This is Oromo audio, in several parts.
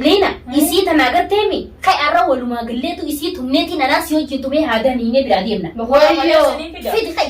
Leena isii tana agartee mi? Kai arra walumaa galleetu isii tumneetiin anaas yoo hojjetu mee haa ganiinee biraa deemna. Fidi kai.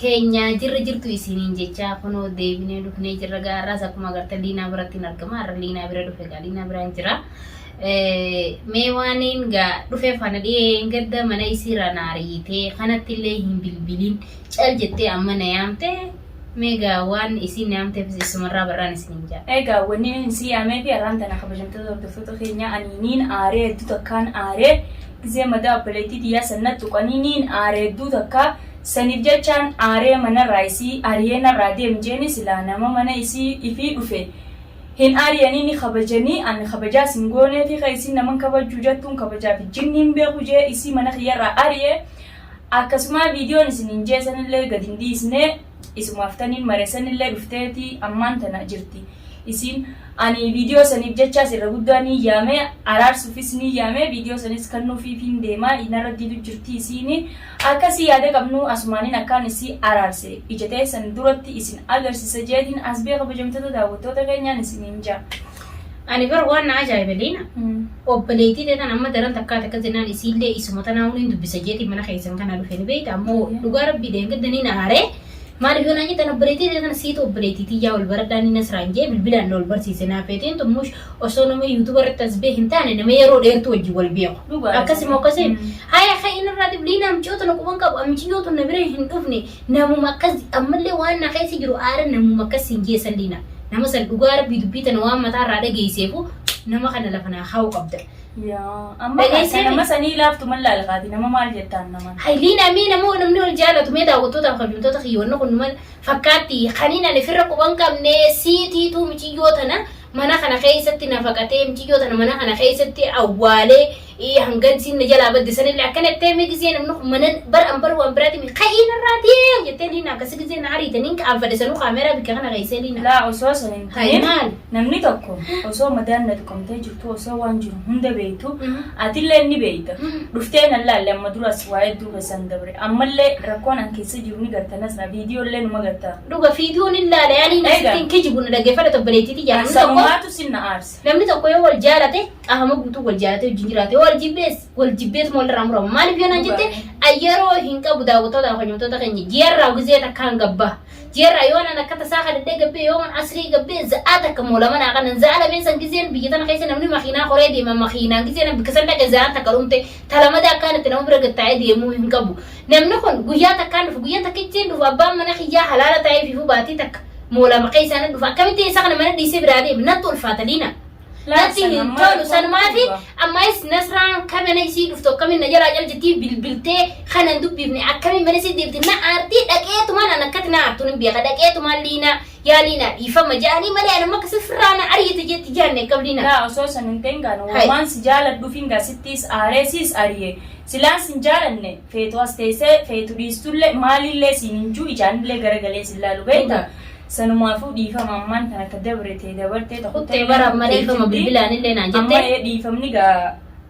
teenya jirra jirtu isiniin jechaa kunoo deebinee dhufnee jirra gaa har'aas akkuma agartan liinaa biratti hin argama har'a liinaa bira dhufe gaa liinaa biraan jira mee waaniin gaa dhufe fana dhiyeen gadda mana isiira naariitee kanatti illee hin bilbilin cal jettee amma na yaamte mee gaa waan isiin na yaamteefis isumarraa barraan isiniin jaa Egaa wanni hin si yaamee fi arraan tana kabajamtoota hordoftoota keenya ani niin aaree hedduu takkaan aaree gizee madaa obboleettii tiyyaa sanna tuqanii niin aaree hedduu takkaa Saniif jechaan aaree manarraa isii ariyee narraa deem jeeni silaa nama mana isii ifii dhufe hin aariyanii ni kabajanii an kabajaas hin gooneefi ka isiin naman kabajjuu jattuun kabajaafi jinni hin beeku jee isii mana kiyyarraa ariye akkasumaa viidiyoon isiniin jee sanillee gad hin dhiisnee isumaaf taniin mare sanillee dhufteeti ammaan tana jirti isiin ani viidiyoo saniif jechaas irra guddaa niin yaamee araarsuufis niin yaamee viidiyoo sanis kannuufiifiin deemaa narra didu jirti isiini Akka isii yaada qabnuu asumaanin akkaan isii araarse ija teessan duratti isin agarsisa jeetin asbee kabajamtoota daawwattoota keenyaan isiniin ja'a. Ani bar waan na ajaa'ibe Liina obboleeytii tee tana amma daran takkaati akkas jennaan isiillee isuma tanaahuu nin dubbisa jeetiin mana keessan kana dhufe ni beeyta ammoo dhugaa rabbii dheengadda nin aare maaliif yoo naan jettan obboleeytii tee tana siitu obboleeytii tiyyaa wal baradhaa ni nasraan jee bilbilaan na wal barsiise naafeetiin xummuush osoo nama yuutuba irratti as bee hin taane nama yeroo dheertuu wajjin wal beeku. Dhugaadha. Akkasii moo akkasii? Mm. Haya kan inni irraa dibli na micoo tana quban qabu amiciyoo tun na bira hin dhufne namuma akkas ammallee waan na keessa jiru aara namuma akkas hin geessan liina. Nama san dhugaa rabbii dubbii tana waan mataa irraa dhageesseefu nama kana lafa naa kaa'u qabda. Yaa, amma Dhageessee akka nama sanii laaftu mal laalkaati nama maal jettaan naman. Hay liina mee namoo namni wal jaalatu mee daawwattootaaf kabajamtoota kiyyoonni kun numan fakkaatti kaniin ani firra quban qabne siitiituu miciyyoo tana mana kana keessatti na faqatee miciyyoo tana mana kana keessatti awwaalee ii, hangan isiin na jalaa badde sanillee akkana jettee mee gizee namni kun mana bar an bar waan biraati miti ka'ii narraa ta'ee jettee liina akkasi gizee na ariite niin qaanfadhe sanuu kaameeraa bikka kana keessee liina. Laa osoo sana hin Hayi taane maal? namni tokko osoo madaan na tuqamtee jirtu osoo waan jiru hunda beektu Mhm. atillee ni beekta. Mhm. Dhuftee nan laalle amma duras waa hedduu keessan dabre. Ammallee rakkoon an keessa jiru ni garta nasra viidiyoo illee numa garta. Dhuga fiituun hin laale ani Egaa. asitti hin kijibu na dhaggeeffadha tobboleettii tiyya namni tokko Sanumaatu sin na aarse. namni tokko yoo wal jaalate qaama guutuu wal jaalate wajjin jiraate yoo wal jibbees wal jibbeetu walirraa murama maaliif yoo naan jette yeroo hin qabu daawwattoota hojjettoota keenya ji'arraa gizee takkaan gabbaa ji'arraa yoo naan akka tasaa kadhadhee gabbee yoo man asrii gabbee za'aa takka moolama naa kanan za'aa lameen san gizeen biyya tana keessa namni makiinaa horee deema makiinaan gizeen bikka san dhaqe za'aan takka dhumte talamada akkaan itti nama bira gattaa'ee deemuu hin qabu Namni kun guyyaa takkaan dhufu guyyaa takkichi hin dhufu abbaan mana kiyyaa halaala taa'ee fiifuu baatii takka moola maqee isaa nan dhufa akkamitti isa kana mana dhiisee biraa deema natti ulfaata liina. Natti hin tolu sanumaafi ammayis nasraan kamina isii dhuftu akkamiin na jalaa caljitii bilbiltee kanan dubbifne akkamiin mana isii deemti na aartii dhaqeetumaan an akkati na aartuun hin beeka dhaqeetumaan liina Yaalii naa dhiifama ja'anii malee ani amma akkasii firraa na ariite jetti jaanne hin qabdina. Laa osoo san hin ta'in gaana Hai. waan si jaaladhuufin gaa sittiis aaree siis ari'e silaan sin jaalanne feetu as teessee feetu dhiistullee maalillee siin hin juu ijaanillee garagalee sin laalu beekta sanumaafuu dhiifama ammaan tan akka dabrete dabartee ta Kuttee bara amma dhiifama bilbilaan illee naan amma jette. ee dhiifamni gaa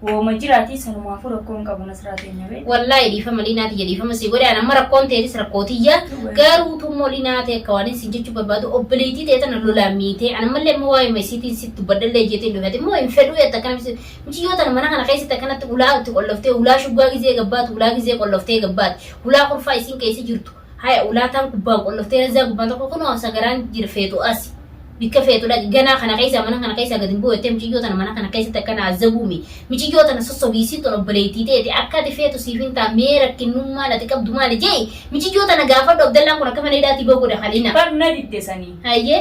Wooma jiraatii sanumaafuu rakkoo hin qabu nasraa teenya bee. Wallaahi dhiifama liinaa tiyya dhiifama si godhe amma rakkoon teetis rakkoo tiyya garuu tummoo liinaa tee akka waanin sin jechuu barbaadu obboleettii tee tana lolaa miitee an ammallee immoo waa'ee masiitiin sitti dubbadhallee jeetiin dhufate immoo hin fedhuu yatta akkana misi muciyyoo tana mana kana keessatti akkanatti ulaa itti qolloftee ulaa shuggaa gizee gabbaatu ulaa gizee qolloftee gabbaati ulaa kurfaa isin keessa jirtu Haya ulaataan gubbaan qollof terezzaa gubbaan tokko kunoo sagaraan jira feetu asi. Bikka feetu dhaqi ganaa kana keessa mana kana keessa gad hin bu'u jettee miciyyoo tana mana kana keessatti akkana azzabuumi. Miciyyoo tana sossobii isiin tun obboleettii teeti akka ati feetu siif hin taa mee rakkinnummaan ati qabdu maali je'i miciyyoo tana gaafadhu Abdallaan kun akka mana hidhaatii bahu godha Halina. Bar na didde sanii. Hayyee.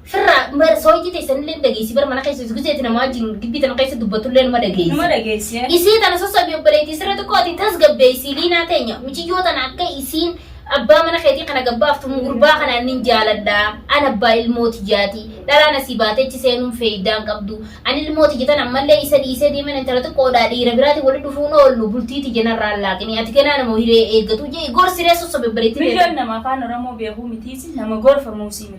Firra bar sooyitii teessan illee ni dhageessi bar mana keessa isguseeti namaa wajjin gibbii tana keessa dubbatu illee numa dhageessi. Numa dhageessi. Isii tana sassabii obboleetii sirra xiqqoo ati tasgabbeessi liinaa teenya miciyyoo tana akka isiin abbaa mana keetii kana gabbaaftu gurbaa kanaan nin jaaladha an abbaa ilmoo tiyyaati dhalaan asii baateechi seenuun feeyidaan qabdu an ilmoo tiyya tan ammallee isa dhiisee deeman intala xiqqoodhaa dhiira biraatiin wali dhufuun oollu bultii tiyya narraa laaqini ati ganaa nama hiree eeggatu jee gorsiree sassabii obboleetii Mijoon nama afaan Oromoo beekuu mitiisi nama gorfamuusi miti.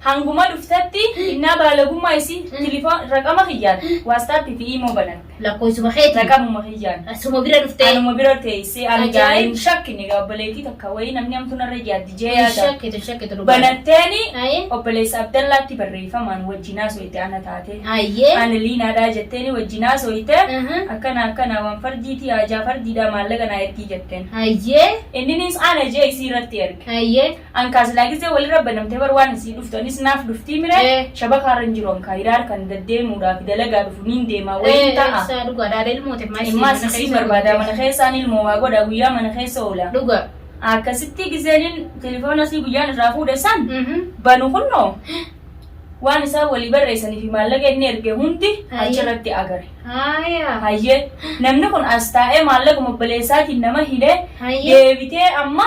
Hanguma dhuftetti innaa baalagummaa isii tilifoon raqama kiyyaan waastaappii fi iimoo banatte. Lakkooysuma keetii. Raqamuma kiyyaan. Suma bira dhuftee. Anuma bira teessee ani gaa Ajaa'ib. hin shakkine gaa obboleettii takka wayii namni hamtuu narra yaaddi jee Hin yaada. shakkitu hin shakkitu dhugaa. Banatteeni Ayi. obboleessa Abdallaatti barreeffamaan wajjin haasooyte ana taatee. Ayyee. Ani liinaadhaa jetteeni wajjin haasooyte Aha. akkana akkana waan fardiitii haajaa fardiidhaa maallaqa naa ergii jetteen. Ayyee. Inninis ana jee isii irratti erge. Ayyee. An kaa silaa gizee walirra banamtee bar waan isii dhuftu anis naaf dhuftii mire Ee. shabaka harra hin jiru an kaa hiraar kan daddeemuudhaa fi dalagaa dhufu niin deemaa waliin ta'a. Isaa dhugaa daadha ilmoo ta'e maal Ilmaas mana isiin keessa barbaadaa guutte. mana keessaan ilmoo waa godha guyyaa mana keessa oola. Dhugaa. Akkasitti gizeenin telefoona isii guyyaan irraa fuudhe san Mhm. banu kunnoo waan isaan walii barreessanii fi maallaqa inni erge hundi Hayyee. achirratti agare. Haayaa. Hayyee namni kun as taa'ee maallaqa obboleessaatiin nama hidhee Hayyee. deebitee amma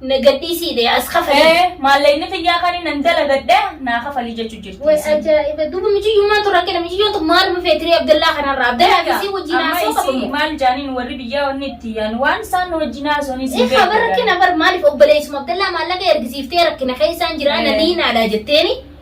Na gadhiisii dee as kafalii. Ee maallaqni tiyyaa kan nan dalagadhe naa kafalii jechuu jirti. Way isiin. ajaa'iba duuba mijiyyummaan tun rakkina mijiyyoon tun maaluma feetirii Abdallaa kanarraa Abdallaa Egaa, isii wajjin amma haasoo qabamu. isii maal jaaniin warri biyyaa wanni itti yaan waan isaan wajjin haasawanii isin Ifa bara rakkina bar maaliif obboleessuma Abdallaa maallaqa ergisiiftee rakkina keessaan jira na Eh. diinaadha jetteeni.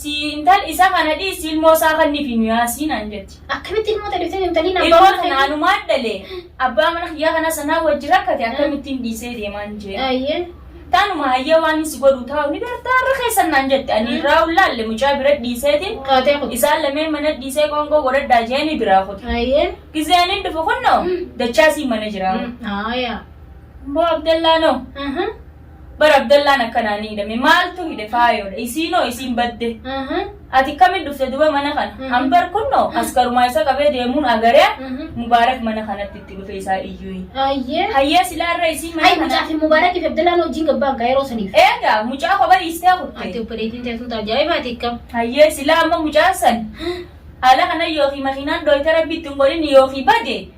Sii intal isa kana dhiisi ilmoo isaa kannifi nu yaasii naan jetti. Akkamitti ilmoo tee dhiftee deemta Liina abbaa Ilmoo mana tana keetii. anumaan dhale abbaa mana kiyyaa kanas anaa wajji rakkate akkamittiin dhiisee deemaan jee. Ayyee. Tanuma hayyee waan hin si godhu taa'u ni beektaa irra keessan naan jette ani irraa ullaalle mucaa bira dhiiseetiin Qaatee kun. isaan lameen mana dhiisee qoonqoo godhadhaa jeeni biraa kute. Ayyee. Gizee ani dhufu kunnoo dachaa sii mana jiraa. Aayaa. Boo Abdallaanoo. Aha. Bara Abdallaan akkanaa ni hidhame. Maaltu hidhe faayoodha. Isiinoo isiin badde. Ati kami dhufte duba mana kana. Ambar kunno askarumaa isa qabee deemuun agaree Mubaarak mana kanatti itti dhufe isaa iyyuyi. Ayyee. Hayyee silaa irra isiin mana Hay kana. mucaa fi Mubaarak fi Abdallaan wajjin gabbaan kaa yeroo saniif. Eegaa mucaa kophaa dhiistee Ati kutte. obboleettiin teessuun ajaa'ibaati akkam. Hayyee silaa amma mucaan san haala kana yookiin makiinaan dhooyte rabbi ittiin godhin yookiin bade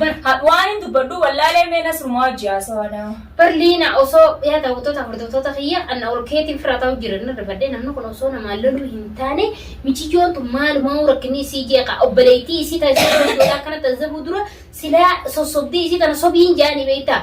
Bar hadh waan hin dubbadhuu wallaalee mee nasrumaa wajji haasawaa dhaa. Bar liina osoo yaa dawwattoota hordoftoota kiyya anna ol keetiin fira ta'u jira nan rifadhe namni kun osoo namaan loluu hin taane miciyyoon tun maalumaa rakkinni isii jeeqa obboleettii isii taasisuu danda'udha akkana taasisuu dura silaa sossobdee isii tana sobiin jaanii beektaa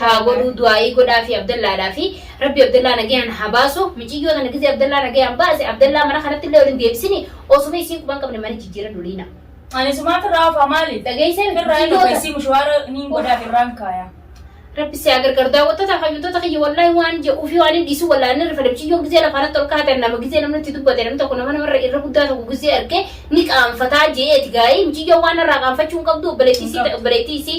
haa godhuu du'aa'ii godhaa fi abdallaadhaa fi rabbi abdallaa nagayaan haa baasu miciyyoo tana gizee abdallaa nagayaan baase abdallaa mana kanatti illee waliin deebisini osuma isiin quban qabne mana jijjiira duliina Ani sumaa firraa hafaa maali? Dhageessee miti Firraa hin jijjiirota. ogeessii mushawaara niin godhaa firraan kaaya. rabbi si haa gargaaru daawwattoota fayyuutota kiyya wallaahi waan jedhuu fi waan hin dhiisu wallaahi inni rifate miciyyoon gizee lafa irratti ol kaatan nama gizee namni itti dubbate namni tokko nama namarra irra guddaa tokko gizee arge ni qaanfataa je'eeti gaa'ii miciyyoon waan irraa qaanfachuu hin qabdu obboleettii isii obboleettii isii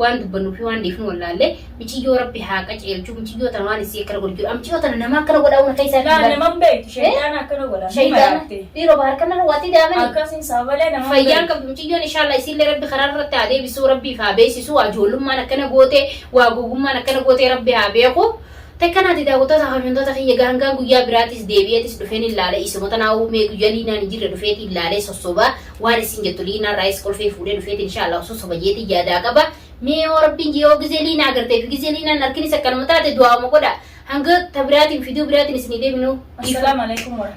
waan dubbannuu fi waan dhiifnu wallaallee miciyyoo rabbi haa qaceelchu miciyyoo tana waan isii akkana godhu jiru miciyyoo tana nama akkana godhaa uuna keessaa Laa fi naman beektu shaytaan akkana godha. Ni shaydaan maraatte. dhiiroo bahar kana waatii daamanii Akkasiin sabalee naman fayyaan beektu. qabdu miciyyoon inshaalla isiillee rabbi karaa irratti haa deebisuu rabbiif haa beeksisu waa ijoollummaan akkana goote waa gogummaan akkana goote rabbi haa beeku takkanaati daawwattoota hafamtoota kiyya gaangaan guyyaa biraatis deebi'eetis dhufeen ilaale isuma tanaa uumee guyyaa liinaan hin jirre dhufeeti ilaalee sossobaa waan isin jettu liinaa raayis kolfee fuudhee dhufeeti inshaallah osoo soba jeetii yaadaa qaba mee yoo rabbiin yoo gizee liinaa agartee fi gizee liinaan harkinis akkanuma taate du'aama godha hanga tabiraatiin fiduu biraatiin isinii deebinu Assalamu alaikum warahmatullahi